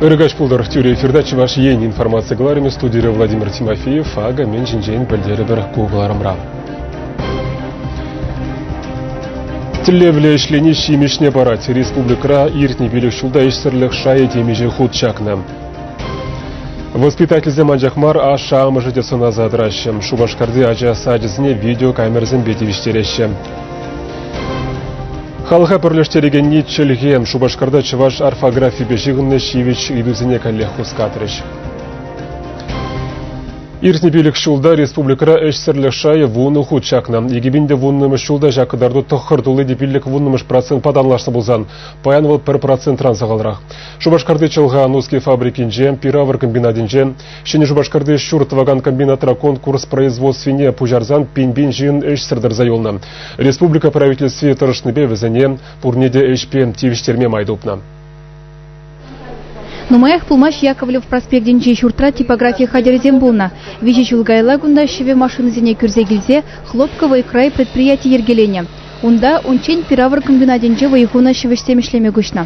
Ырӑ каҫ пултӑр! Тӳре эфирта Чӑваш Ен информаци кӑларӑмӗ студире Владимир Тимофеев. Акӑ мӗн ҫинчен пӗлтерӗпӗр ку кӑларӑмра. Тӗллевлӗ ӗҫлени ҫимӗҫне парать. Республикӑра иртнӗ пилӗк ҫулта ӗҫсӗрлӗх шайӗ темиҫе хут чакнӑ. Воспитательсем анчах мар, ашшӗ-амӑшӗ те сӑнаса тӑраҫҫӗ. Шупашкарти ача сачӗсене видеокамерӑсемпе тивӗҫтереҫҫӗ. Халӑха пӗрлештерекенни чӗлхе. Шупашкарта чӑваш орфографипе ҫыхӑннӑ ҫивӗч ыйтусене каллех хускатрӗҫ. Иртнӗ пилӗк ҫулта республикӑра ӗҫсӗрлӗх шайӗ вунӑ хут чакнӑ. икӗ пин те вуннӑмӗш ҫулта ҫак кӑтарту тӑххӑр тулли те пиллӗк вуннӑмӗш процентпа танлашнӑ пулсан, паян вӑл пӗр процентран сахалрах. Шупашкарти Чӑлха Нуски фабрикинче, пир-авӑр комбинатӗнче, Ҫӗнӗ Шупашкарти ҫурт тӑвакан комбинатра конкурс производствине пуҫарсан пин-пин ҫын ӗҫсӗр тӑрса юлнӑ. Республика Правительстви тӑрӑшнипе вӗсене пурне те ӗҫпе тивӗҫтерме май тупнӑ. Нумаях пулмасть Яковлев проспектӗнчи ҫуртра типографи хатӗрӗсем пулнӑ. Виҫӗ ҫул каялла кунта ҫӗвӗ машинисене кӳрсе килсе Хлопковый край предприяти йӗркеленӗ. Унта унччен пир-авӑр комбинатӗнче вӑй хунӑ ҫӗвӗҫсем ӗҫлеме куҫнӑ.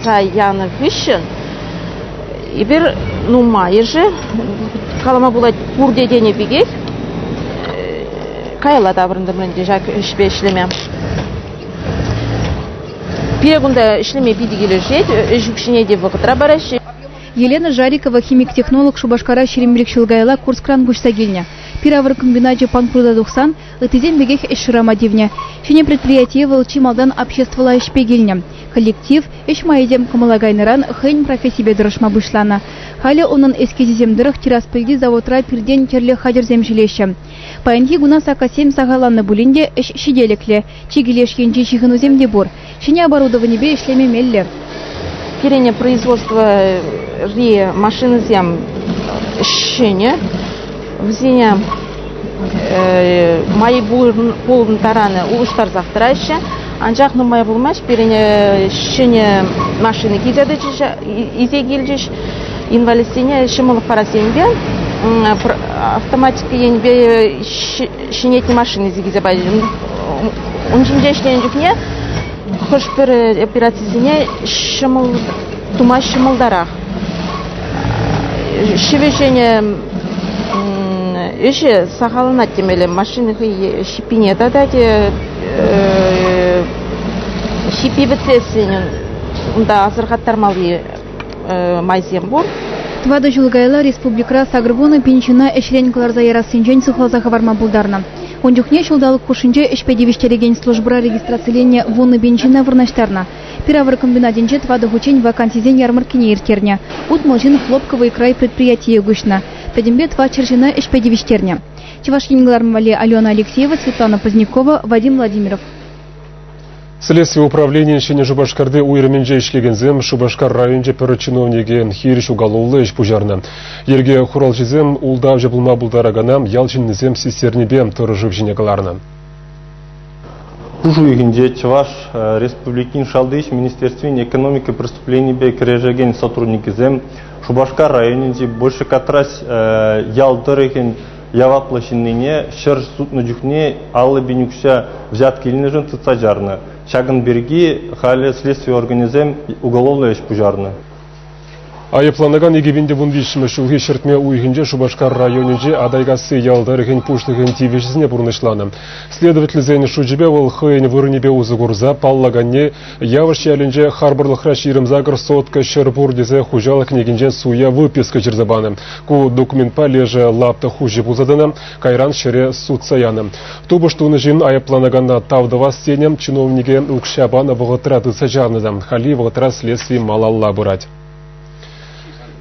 Аса янӑ хыҫҫӑн эпир нумайӑшӗ, калама пулать, пурте тенӗ пекех, каялла таврӑнтӑмӑр ӗнтӗ ҫак ӗҫпе ӗҫлеме. Пире кунта ӗҫлеме питӗ килӗшет, ӗҫ укҫине те вӑхӑтра параҫҫӗ. Елена Жарикова химик-технолог Шупашкара ҫирӗмрех ҫул каялла Курскран куҫса килнӗ. Пир-авӑр комбиначӗ панкрута тухсан Ыттисем пекех ӗҫ шырама тивнӗ. Ҫӗнӗ предприятие вӑл чи малтан обществӑлла ӗҫпе килнӗ. Коллектив ӗҫ майӗсем кӑмӑла кайнӑран хӑйӗн профессипе тӑрӑшма пуҫланӑ. Халӗ унӑн эскизӗсем тӑрӑх Тираспольти заводра пиртен тӗрлӗ хатӗрсем ҫӳлеҫҫӗ. Паянхи куна саккассем сахалланнӑ пулин те ӗҫ ҫителӗклӗ, Чикӗ леш енчи ҫыхӑнусем те пур. Ҫӗнӗ оборудованипе ӗҫлеме меллӗ. Пирӗн производствӑри машинӑсем ҫӗнӗ. Вӗсене май пулӑм таранӗ улӑштарсах тӑраҫҫӗ. Анчах нумай пулмасть пирӗн ҫӗнӗ машина илсе килчӗҫ. Инвалидсене ҫӑмӑллӑх парассемпе автоматика енӗпе ҫӗнетнӗ машинӑсем килсе пачӗҫ. Ун ҫинче ӗҫленӗ чухне хӑш-пӗр операцисене ҫӑмӑл тума ҫӑмӑлтарах. Ҫӗвӗҫенӗ ӗҫӗ сахалланать темелле. Машина хӑй ҫиппине татать, ҫиппи пӗтлессин унта асӑрхаттармалли майсем пур. Тӑватӑ ҫул каялла республикӑра сакӑрвунӑ пин ҫына ӗҫрен кӑларса ярассинчен сыхласа хӑварма пултарнӑ. Ун чухне ҫулталӑк хушшинче ӗҫпе тивӗҫтерекен службӑра регистрациленнӗ вуннӑ пин ҫына вырнаҫтарнӑ. Пир-авӑр комбинатӗнче тӑватӑ хутчен вакансисен ярмӑрккине ирттернӗ. Утмӑл ҫын Хлопковый край предприятие куҫнӑ. Пӗтӗмпе тӑватҫӗр ҫына ӗҫпе тивӗҫтернӗ. Чӑваш Ен кӑларӑм валли Алена Алексеева, Светлана Позднякова, Вадим Владимиров. Следстви управленийӗн Ҫӗнӗ Шупашкарти уйрӑмӗнче ӗҫлекенсем Шупашкар районӗнче пӗр чиновнике хирӗҫ уголовлӑ ӗҫ пуҫарнӑ. Йӗрке хуралҫисем ултавҫӑ пулма пултаракана ял ҫыннисем систернипе тӑрӑшыв ҫине кӑларнӑ. Пуш уйӑхӗнче Чӑваш Республикин Шалти ӗҫ министерствин экономика преступленийӗпе кӗрешекен сотрудникӗсем Шупашкар районӗнчи Большекатрась ял тӑрӑхӗн яваплӑ ҫыннине ҫӗр сутнӑ чухне аллӑ пин укҫа взятки илнӗшӗн тытса чарнӑ. Ҫакӑн пирки халӗ следстви органӗсем уголовлӑ ӗҫ пуҫарнӑ. Айӑпланакан икӗ пин те вун виҫҫӗмӗш ҫулхи ҫӗртме уйӑхӗнче Шупашкар районӗнчи Атайкасси ял тӑрӑхӗн пуҫлӑхӗн тивӗҫӗсене пурнӑҫланӑ. Следовательсен шучӗпе вӑл хӑйӗн вырӑнӗпе усӑ курса паллаканне Явӑш ялӗнче харпӑрлӑхра ҫирӗм-сакӑр сотка ҫӗр пур тесе хуҫалӑх кӗнекинчен суя выписка ҫырса панӑ. Ку документпа лешӗ лапта хуҫи пулса тӑнӑ, кайран ҫӗре сутса янӑ. Тупӑш тунӑ ҫын айӑпланакана тав тӑвас тенӗ, чиновнике укҫа панӑ вӑхӑтра тытса чавнӑ та. Хальхи вӑхӑтра следстви малалла пырать.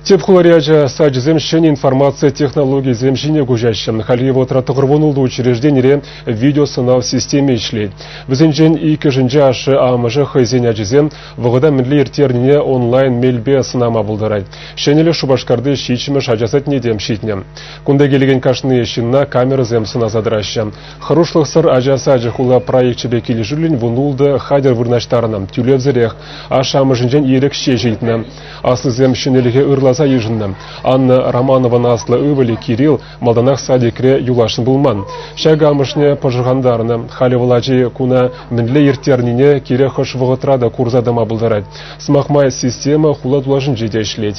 Тӗп хулари ача сачӗсем ҫӗнӗ информаци технологийӗсем ҫине куҫаҫҫӗ. Хальхи вӑхӑтра тӑхӑр вун ултӑ учрежденире видеосӑнав системи ӗҫлет. Вӗсенчен иккӗшӗнче ашшӗ-амӑшӗ хӑйсен ачисем вӑхӑта мӗнле ирттернине онлайн мелпе сӑнама пултарать. Ҫӗнӗлӗх Шупашкарти ҫиччӗмӗш ача садне те ҫитнӗ. Кунта килекен кашни ҫынна камерӑсем сӑнаса тӑраҫҫӗ. Хӑрушлӑхсӑр ача сачӗ хула проекчӗпе килӗшӳллӗн вун-ултӑ хатӗр вырнаҫтарнӑ, тӳлевсӗрех. Ашшӗ-амӑшӗнчен ирӗк ҫеҫ илтнӗ. Аслисем ҫӗнӗлӗхе ырласа йышӑннӑ. Анна Романован аслӑ ывӑлӗ Кирилл малтанах садикре юласшӑн пулман. Ҫакӑ амӑшне пӑшӑрхантарнӑ. Халӗ вӑл ачи куна мӗнле ирттернине кирек хӑш вӑхӑтра та курса тӑма пултарать. Сӑмах май, система хула тулашӗнче те ӗҫлет.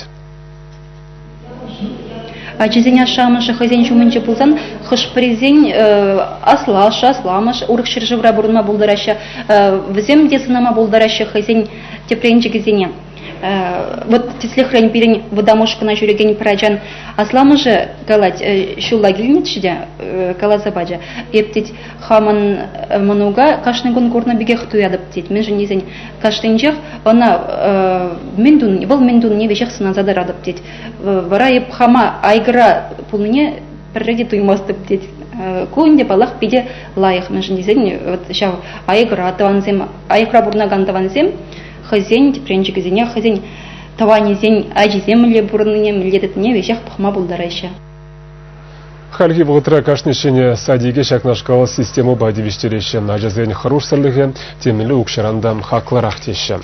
Ачисен ашшӗ-амӑшӗ хӑйсен ҫумӗнче пулсан хӑш-пӗрисен аслашшӗ, асламӑшӗ урӑх ҫӗршывра пурӑнма пултараҫҫӗ. Вӗсем те сӑнама пултараҫҫӗ хӑйсен тӗпренчӗкӗсене. Вот тӗслӗхрен пирӗн вӑтам ушкӑна ҫӳрекен пӗр ачан асламӑшӗ калать, ҫулла килнӗччӗ те, каласа пачӗ, эп тет, хамӑн мӑнука кашни кун курнӑ пекех туятӑп тет. Мӗншӗн тесен кашнинчех ӑна мӗн туни, вӑл мӗн тунине веҫех сӑнаса тӑратӑп тет. Вара эп хама айгӑра пулнине пӗрре те туймастӑп тет. Ку ӗнтӗ, паллах, питӗ лайӑх. Мӗншӗн тесен вот ҫав айгӑра тӑвансем, айгӑра пурӑнакан тӑвансем хӑйсен тӗпренчӗкӗсене хӑйсен тӑванӗсен ачисем мӗнле пурӑннине, мӗнле тытнине веҫех пӑхма пултараҫҫӗ. Хальхи вӑхӑтра кашни ҫӗнӗ садике ҫакнашкал системӑпа тивӗҫтереҫҫӗ. Ачасен хӑрушсӑрлӑхӗ темле укҫаран та хаклӑрах теҫҫӗ.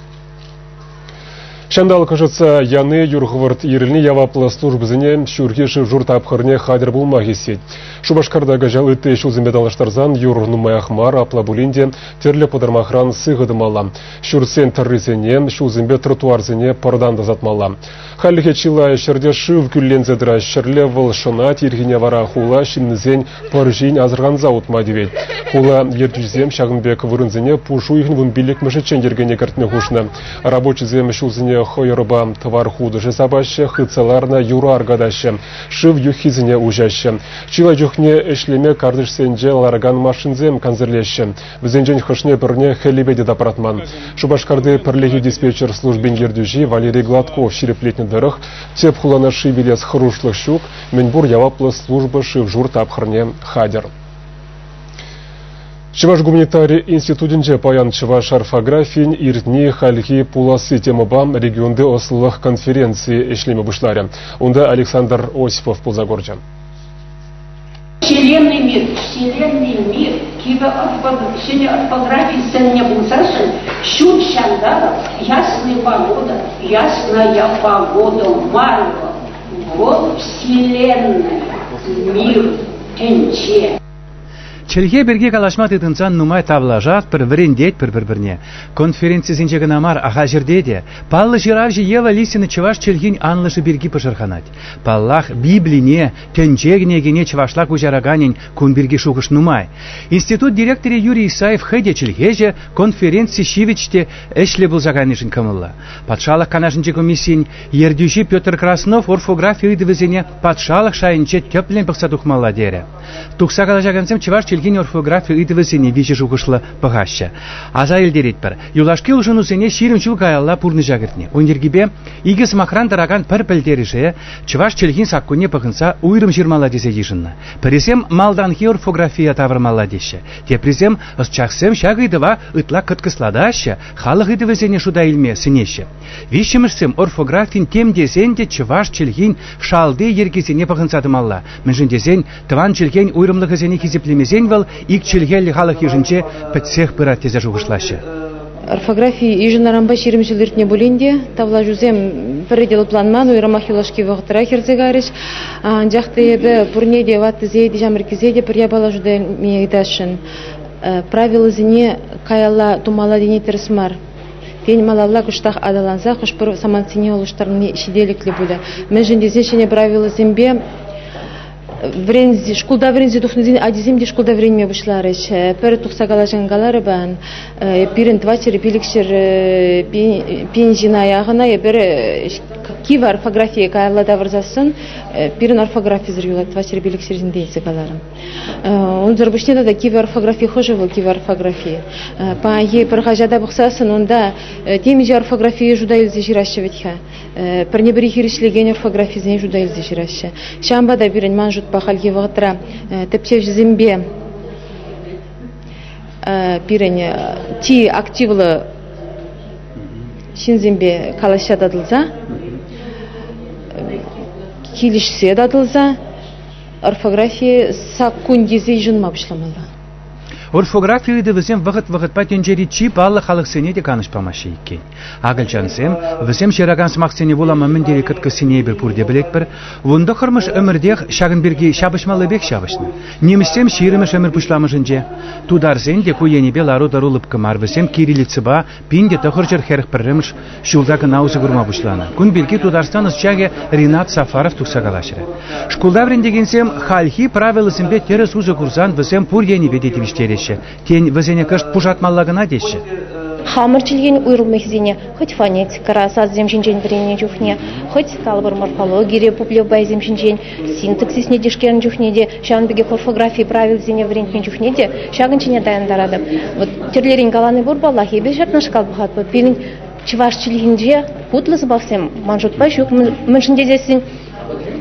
Ҫанталӑк ӑшӑтса яни юр хӑвӑрт ирӗлни яваплӑ службӑсене ҫурхи шыв-шур тапхӑрне хатӗр пулма хистет. Шупашкарта кӑҫал ытти ҫулсемпе танлаштарсан юр нумаях мар, апла пулин те тӗрлӗ пӑтӑрмахран сыхӑ тӑмалла. Ҫуртсен тӑррисене, ҫулсемпе тротуарсене пӑртан тасатмалла. Хальлӗхе чылай ҫӗрте шыв кӳлленсе тӑрать. Ҫӗрле вӑл шӑнать, ирхине вара хула ҫыннисен пӑр ҫин асӑрханса утма тивет. Хула ертӳҫисем ҫакӑн пек вырӑнсене пуш уйӑхӗн вун пиллӗкмӗшӗччен йӗркене кӗртме хушнӑ. Рабочисем ҫулсене хӑйӑрпа тӑвар хутӑшӗ сапаҫҫӗ, хытса ларнӑ юра аркатаҫҫӗ, шыв юххисене уҫаҫҫӗ. Чылай чухне ӗҫлеме картишсенче ларакан машинсем кансӗрлеҫҫӗ. Вӗсенчен хӑшне-пӗрне хӗллепе те тапратман. Шупашкарти пӗрлехи диспетчер службин ертӳҫи Валерий Гладков ҫирӗплетнӗ тӑрӑх, тӗп хулана ши вилес хӑрушлӑх ҫук, мӗнпур яваплӑ служба шыв-шур тапхӑрне хатӗр. Чӑваш гуманитари институтӗнче паян чӑваш орфографийӗн иртни хальхи пуласси темӑпа регионти ӑслӑлӑх конференцийӗ ӗҫлеме пуҫларӗ. Унта Александр Осипов пулса курчӗ. Вселенный мир, Вселенный мир кивӗ ҫӗнӗ орфографи сӗннӗ пулсассӑн ҫут ҫанталӑк ясная погода, ясная погода мар вӑл Вселенная мир тӗнче. Чӗлхе пирки калаҫма тытӑнсан нумай тавлашатпӑр, вӗрентетпӗр пӗр-пӗрне. Конференцисенче кӑна мар, ахальҫӗрте те паллӑ ҫыравҫӑ Ева Лисина чӑваш чӗлхин анлӑшӗ пирки пӑшӑрханать. Паллах, Библине, Тӗнче кӗнекине чӑвашла куҫараканӗн кун пирки шухӑш нумай. Институт директорӗ Юрий Исаев хӑй те чӗлхеҫӗ, конференци ҫивӗч те ӗҫлӗ пулса кайнишӗн кӑмӑллӑ. Патшалӑх канашӗнчи комиссийӗн ертӳҫи Петр Краснов орфографи ыйтӑвӗсене патшалӑх шайӗнче тӗплӗн пӑхса тухмалла терӗ. Тухса калаҫакансем чӑваш чӗлхин орфографи ыйтӑвӗсене виҫӗ шухӑшлӑ пӑхаҫҫӗ. Аса илтеретпӗр, юлашки улшӑнусене ҫирӗм ҫул каялла пурнӑҫа кӗртнӗ. Ун йӗркипе икӗ сӑмахран тӑракан пӗр пӗлтерӗше Чӑваш чӗлхин саккунне пӑхӑнса уйрӑм ҫырмалла тесе йышӑннӑ. Пӗрисем малтанхи орфографие тавӑрмалла теҫҫӗ, теприсем ӑсчахсем ҫак ыйтӑва ытла кӑткӑслатаҫҫӗ, халӑх ыйтӑвӗсене шута илме сӗнеҫҫӗ. Виҫҫӗмӗшсем орфографин тем тесен те чӑваш чӗлхин шалти йӗркисене пӑхӑнса тӑмалла, мӗншӗн тесен Тӑван чӗлхен уйрӑмлӑхӗсене хисеплемесен вӑл ик чӗлхеллӗ халӑх йышӗнче пӗтсех пырать тесе шухӑшлаҫҫӗ. Орфографи йышӑннӑранпа ҫирӗм ҫул иртнӗ пулин те тавлашусем пӗрре те лӑпланман, уйрӑмах юлашки вӑхӑтра хӗрсе кайрӗҫ. Анчах та эпӗ пурне те, ваттисене те, ҫамрӑккисене те пӗр япала шута илме ыйтасшӑн. Правилӑсене каялла тумалла тени тӗрӗс мар. Тен, малалла кӑштах аталанса хӑш-пӗр самантсене улӑштарни ҫителӗклӗ пулӗ. Мӗншӗн тесен ҫӗнӗ правилӑсемпе шкулта вӗренсе тухнисен ачисем те шкулта вӗренме пуҫларӗҫ. Пӗр тухса калаҫан каларӑмӑр, пирӗн тӑват ҫӗр, пилӗк ҫӗр пин ҫына яхӑна эпир кив орфографие каялла тавӑрсассӑн пирӗн орфографисӗр юлать тӑват ҫӗр, пилӗк ҫӗр ҫинчен тесе каларӑм. Унсӑр пуҫне тата кивӗ орфографи хӑшӗ вӑл кивӗ орфографи? Паянхи пӗр хаҫата пӑхсассӑн унта темиҫе орфографие шута илсе ҫыраҫҫӗ вӗт-ха. Пӗрне-пӗри хирӗҫлекен орфографисене шута илсе ҫыраҫҫӗ. Ҫавӑнпа та пирӗн ман шутпа хальхи вӑхӑтра тӗпчевҫӗсемпе пирӗн чи активлӑ ҫынсемпе калаҫса татӑлса, килӗшсе татӑлса орфографи саккун тесе йышӑнма пуҫламалла. Орфографи ыйтӑвӗсем вӑхӑт-вӑхӑтпа тӗнчери чи паллӑ халӑхсене те канӑҫ памаҫҫӗ иккен. Акӑлчансем вӗсем ҫыракан сӑмахсене вулама мӗн тери кӑткӑссине эпир пурте пӗлетпӗр. Вун тӑххӑрмӗш ӗмӗртех ҫакӑн пирки ҫапӑҫмаллипех ҫапӑҫнӑ. Нимӗҫсем ҫирӗмӗш ӗмӗр пуҫламӑшӗнче. Тутарсен те ку енӗпе лару-тӑру лӑпкӑ мар. Вӗсем кириллицӑпа, Пин те тӑхӑрҫӗр хӗрӗх пӗрремӗш ҫулта кӑна усӑ курма пуҫланӑ. Кун пирки Тутарстан ӑсчахӗ Ринат Сафаров тухса калаҫрӗ. Шкулта вӗрентекенсем хальхи правилӑсемпе тӗрӗс усӑ курсан вӗсем пур енӗпе те тивӗҫтереҫҫӗ. Тен, вӗсене кӑшт пушатмалла кӑна теҫҫӗ. Хамӑр чӗлхен уйрӑмлӑхӗсене хӑть фонетикӑра сасӑсем ҫинчен вӗреннӗ чухне, хӑть калӑпӑр морфологире пуплевпайсем ҫинчен Синтаксисне тишкернӗ чухне те, ҫавӑн пекех орфографи правилисене вӗрентмен чухне те ҫакӑн ҫине таянтаратӑп. Вот тӗрлерен калани пур паллах. Эпир ҫакнашкал пӑхатпӑр. Пирӗн чӑваш чӗлхинче хутлӑ сӑмахсем ман шутпа ҫук. Мӗншӗн тесессӗн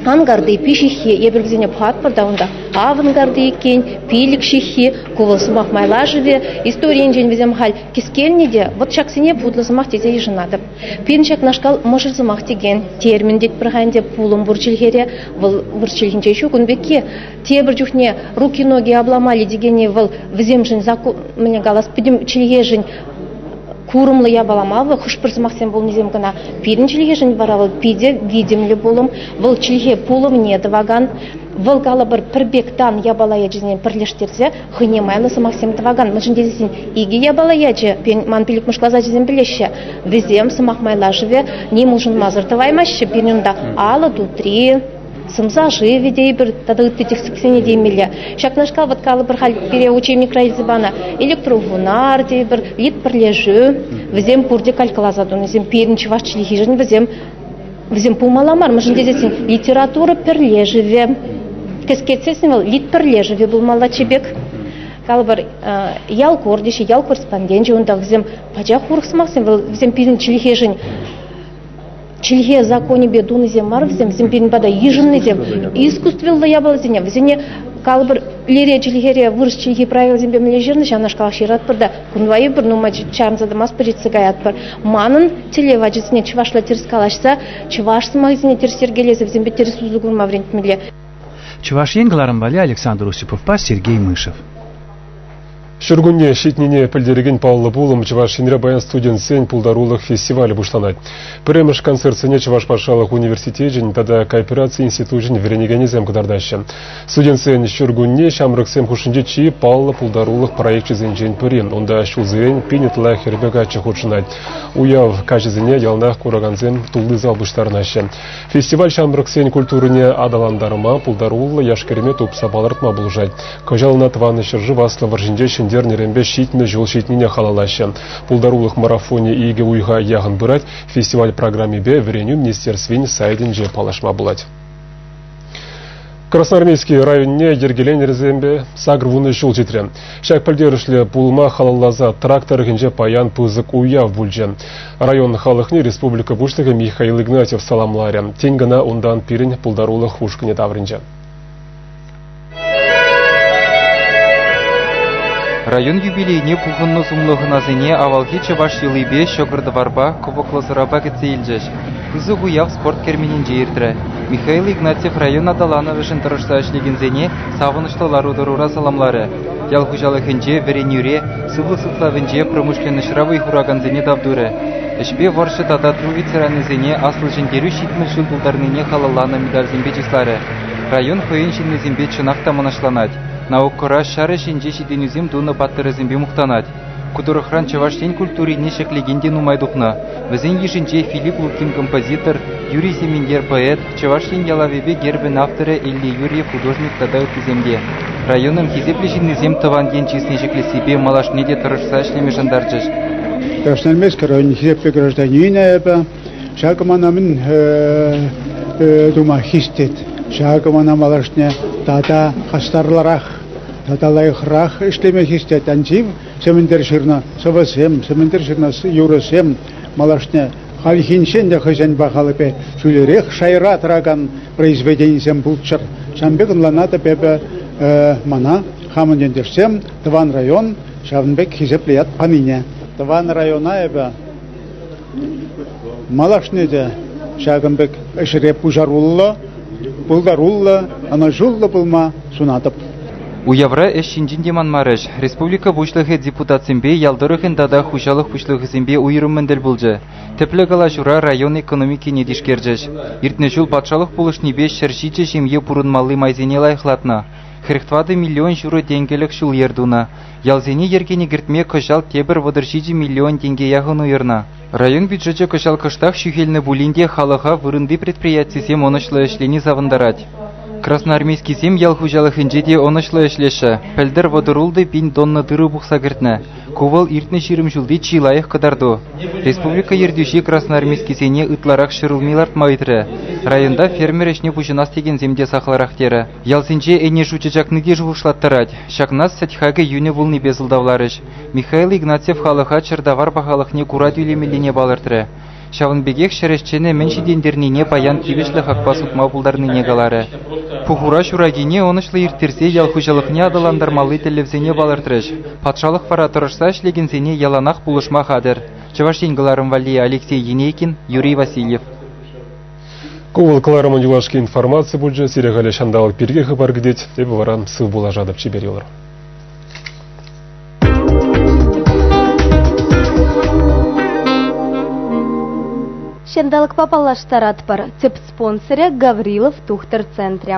ангарти пиҫиххи эпир вӗсене пӑхатпӑр та унта авангарди иккен пилӗк ҫыххи ку сӑмах майлашӑвӗ историйӗнчен вӗсем халь кӗскелнӗ те вот ҫаксене путлӑ сӑмах тесе йышӑнатӑп Пирӗн ҫакнашкал мӑшӑр сӑмах текен термин тетпӗр-ха ӗнтӗ пулӑм пур чӗлхере. Вӑл вӑр чӗлхинче ҫук ун пекки. Тепӗр чухне руки-ноги обломали текенни вӑл вӗсемшӗн закон мӗне калас пӗтӗм чӗлхешӗн курӑмлӑ япалама вӑл хӑш-пӗр сӑмахсем пулнисем кӑна. Пирӗн чӗлхешӗн вара вӑл питӗ витӗмлӗ пулӑм, вӑл чӗлхе пулӑмне тӑвакан, вӑл калӑпӑр пӗр пек тан япала ячӗсене пӗрлештерсе хӑйне майлӑ сӑмахсем тӑвакан, мӗншӗн тесен икӗ япала ячӗ, ман пиллӗкмӗш класс ачисем пӗлеҫҫӗ, вӗсем сӑмах майлашӑвӗ ним улшӑнмасӑр тӑваймаҫҫӗ. Пирӗн унта алӑ тутри, сӑмса шывӗ тейпӗр тата ытти тӗслӗхсене теймелле. Ҫакнашкал вӑт калӑпӑр халь пире учебникра илсе панӑ электрофунар тейпӗр, лид пӗрлешӳ, вӗсем пурте калькӑласа тунисем. Пирӗн чӑваш чӗлхишӗн вӗсем Вӗсем пулмалла мар, мӗншӗн тесессӗн литература пӗрлешӗвӗ. Кӗскетсессӗн вӑл лит пӗрлешӗвӗ пулмалла чӗпек. Калӑпӑр, ял кордишӗ, ял корреспонденчӗ унта вӗсем пачах урӑх сӑмахсем, вӑл вӗсем пирӗн чӗлхешӗн чӗлхе законӗпе тунисем мар вӗсем, вӗсем пирӗн пата йышӑннисем. Искусствӑллӑ япаласене, вӗсене калӑпӑр, лере чӗлхере, вырӑс чӗлхи правилисемпе мӗнле ҫырнӑ, ҫавнашкалах ҫыратпӑр та Кунпа эпир нумай чарӑнса тӑмастпӑр, ҫитсе каятпӑр. Манӑн телей ачасене чӑвашла тӗрӗс калаҫса, чӑваш сӑмахӗсене тӗрӗс йӗркелесе вӗсемпе тӗрӗс усӑ курма вӗрентмелле. Чӑваш Ен кӑларӑм валли Александр Осиповпа Сергей Мышев. Ҫуркунне ҫитнине пӗлтерекен паллӑ пулӑм Чӑваш Енре паян студентсен пултарулӑх фестивалӗ пуҫланать. Пӗрремӗш концертсене Чӑваш патшалӑх университечӗн тата коопераци институчӗн вӗренекенӗсем кӑтартаҫҫӗ. Студентсен ҫуркунне ҫамрӑксем хушшинче чи паллӑ пултарулӑх проекчӗсенчен пӗри. Унта ҫулсерен принятла хӗрпе каччӑ хутшӑнать. Уяв каҫӗсене яланах куракансем тулли зал пуҫтарӑнаҫҫӗ. Фестиваль ҫамрӑксен культурине аталантарма пултаруллӑ яш-кӗрӗме тупса палӑртма пулӑшать. Кӑҫал ӑна тӑван ҫӗршыв Аслӑ вӑрҫинче ҫӗнтернӗренпе ҫитмӗл ҫул ҫитнине халаллаҫҫӗ. Пултарулӑх марафонӗ икӗ уйӑха яхӑн пырать. Фестиваль программипе вӗренӳ министерствин сайтӗнче паллашма пулать. Красноармейски районне йӗркеленӗрсемпе сакӑр вунӑ ҫул ҫитрӗ. Ҫак пӗлтерӗшлӗ пулӑма халалласа трак тӑрӑхӗнче паян пысӑк уяв пулчӗ. Район халӑхне республика Пуҫлӑхӗ Михаил Игнатьев саламларӗ, тен кӑна унтан пирӗн пултарулӑх ушкӑнӗ таврӑнчӗ. Район юбилейне пухӑннӑ сумлӑ хӑнасене авалхи чӑваш йӑлипе, ҫӑкӑр-тӑварпа, кӑвӑклӑ сӑрапа кӗтсе илчӗҫ. Пысӑк уяв спорт керменӗнче иртрӗ. Михаил Игнатьев район аталанӑвӗшӗн тӑрӑшса ӗҫлекенсене савӑнӑҫлӑ лару-тӑрура саламларӗ. Ял хуҫалӑхӗнче, вӗренӳре, сывлӑх сыхлавӗнче промышленноҫра вӑй хуракансене тав турӗ. Ӗҫпе вӑрҫӑ тата ту ветеранӗсене Аслӑ Ҫӗнтерӳ ҫитмӗл ҫул тултарнине халалланӑ медальсемпе чысларӗ. район хӑйӗн ҫыннисемпе чӑнах та мӑнаҫланать. Наукӑра ҫар ӗҫӗнче ҫитӗнӳсем тунӑ паттӑрӗсемпе мухтанать. Ку тӑрӑхран Чӑваш Ен культурине ҫӗклекен те нумай тухнӑ. Вӗсен йышӗнче Филипп Лукин композитор, Юрий Семеньер поэт, Чӑваш Ен ялавӗпе гербӗн авторӗ Илья Юрьев художник тата ыттисем те. Районӑн хисеплӗ ҫыннисем тӑван ен чысне ҫӗклессипе малашне те тӑрӑшса ӗҫлеме шантарчӗҫ. Красноармейски район хисеплӗ гражданинӗ эпӗ. Ҫакӑ мана мӗн тума хистет. Ҫакӑ мана малашне тата хастарлӑрах, тата лайӑхрах ӗҫлеме хистет. Анчив Сементер ҫырнӑ сӑвӑсем, Сементер ҫырнӑ юрӑсем малашне хальхинчен те хӑйсен пахалӑхӗпе ҫӳлерех шайра тӑракан произведенисем пулччӑр. Ҫавӑн пек ӑнланатӑп эпӗ мана хамӑн ентешсем тӑван район ҫавӑн пек хисеплӗ ят панине. Тӑван района эпӗ Малашне те ҫакӑн пек ӗҫре пуҫаруллӑ, пултаруллӑ, ӑнӑҫуллӑ пулма сунатӑп. Уявра ӗҫ ҫинчен те манмарӗҫ. Республика Пуҫлӑхӗ депутатсемпе ял тӑрӑхӗн тата хуҫалӑх пуҫлӑхӗсемпе уйрӑммӑн тӗл пулчӗ. Тӗплӗ калаҫура район экономикине тишкерчӗҫ. Иртнӗ ҫул патшалӑх пулӑшнипе ҫӗр ҫичӗ ҫемье пурӑнмалли майсене лайӑхлатнӑ. Хӗрӗх тӑватӑ миллион ҫурӑ тенкӗлӗх ҫул-йӗр тунӑ. Ялсене йӗркене кӗртме кӑҫал тепӗр вӑтӑр ҫичӗ миллион тенке яхӑн уйӑрнӑ. Район бюджечӗ кӑҫал кӑштах ҫӳхелнӗ пулин те халӑха вырӑнти предприятисем ӑнӑҫлӑ ӗҫлени савӑнтарать. Красноармейскисем ял хуҫалӑхӗнче те ӑнӑҫлӑ ӗҫлеҫҫӗ. Пӗлтӗр вӑтӑрултӑ пин тонна тырӑ пухса кӗртнӗ. Ку вӑл иртнӗ ҫирӗм ҫулти чи лайӑх кӑтарту. Республика ертӳҫи красноармейскисене ытларах ҫӗр улми лартма ыйтрӗ. Районта фермер ӗҫне пуҫӑнас текенсем те сахалрах терӗ. Ялсенче Энӗшӳ чачакники шухӑшлаттарать. Ҫакна сӗт хакӗ йӳнӗ пулнипе сӑлтавларӗҫ. Михаил Игнатьев халӑха чӗртавар пахалӑхне кура тӳлемеллине палӑртрӗ. Ҫавӑн пекех ҫӗр ӗҫченӗ мӗн ҫитӗнтернине паян тивӗҫлӗ хакпа сутма пултарнине каларӗ. Пухура ҫуракине ӑнӑҫлӑ ирттерсе ял хуҫалӑхне аталантармалли тӗллевсене палӑртрӗҫ. Патшалӑх вара тӑрӑшса ӗҫлекенсене яланах пулӑшма хатӗр. Чӑваш Ен кӑларӑм валли Алексей Енейкин, Юрий Васильев. Ку вӑл кӑларӑмӑн юлашки информаци пулчӗ. Сире халӗ ҫанталӑк пирки хыпар кӗтет. Эпӗ вара сыв пулашатӑп чипер йӑлӑр. Ҫанталӑкпа паллаштаратпӑр. Тӗп спонсорӗ Гаврилов тухтӑр центрӗ.